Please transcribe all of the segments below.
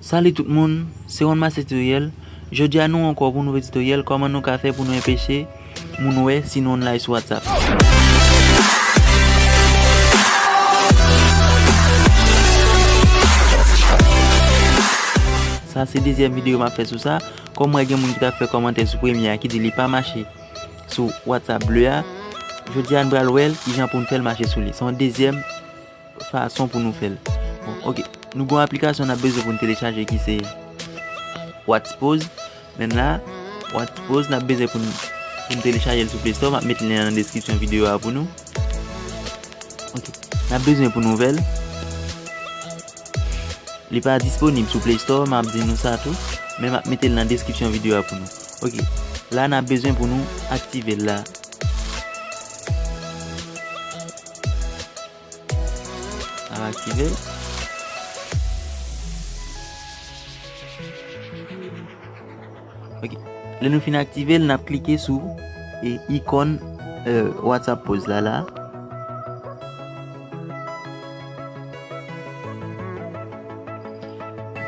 Salut tout moun, se Ron Master Tutoriel, jodi a nou ankò pou nouvo tutoriel kòman nou ka fè pou nou enpeche moun wè si nou online sou WhatsApp. Sa se dezyèm video map fè sou sa, kòm wè gen moun ki tap fè kòmantè sou premye a ki di li pa mache. sou WhatsApp bleu a jodi a nou pral wèl kijan poun fèl mache sou li se yon dezyèm fason pou nou fèl ok nou gon aplikasyon nap bezwen poun telechaje ki se Whatspose men la Whatspose nap bezwen poun poun telechajel sou playstore map met lyen nan deskripsyon videyo a pou nou ok nap bezwen pou nou vèl li pa disponib sou playstore map di nou sa tou men map metel nan deskripsyon videyo a pou nou. Ok la nap bezwen pou nou aktivel la. Nap aktivel. Ok le nou fin aktivel nap klike sou e ikon euh, WhatsApp pose la la.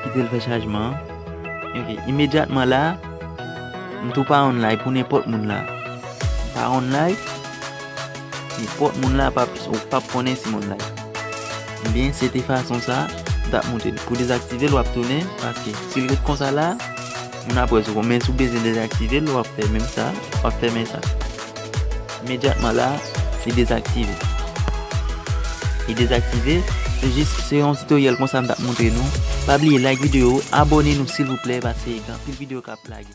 Kite l fè chajman an. Ok, imedyatman la, m tou pa online pou nenpòt moun la. M pa online, nenpòt moun la pa ou pa konnen si m online. Ebyen, se te fason sa, m ta montre l. Pou dezaktive l, w ap tounen, paske si l ret konsa la, moun ap wè sou konn. Men sou bezwen dezaktive l, w ap fè menm sa, w ap fèmen sa. Imedyatman la, li dezaktive. Li dezaktive, se jis se yon tutoriel konsa m tap montre nou. Pa bliye like video, abone nou silvouplè paske gen anpil video kap lage.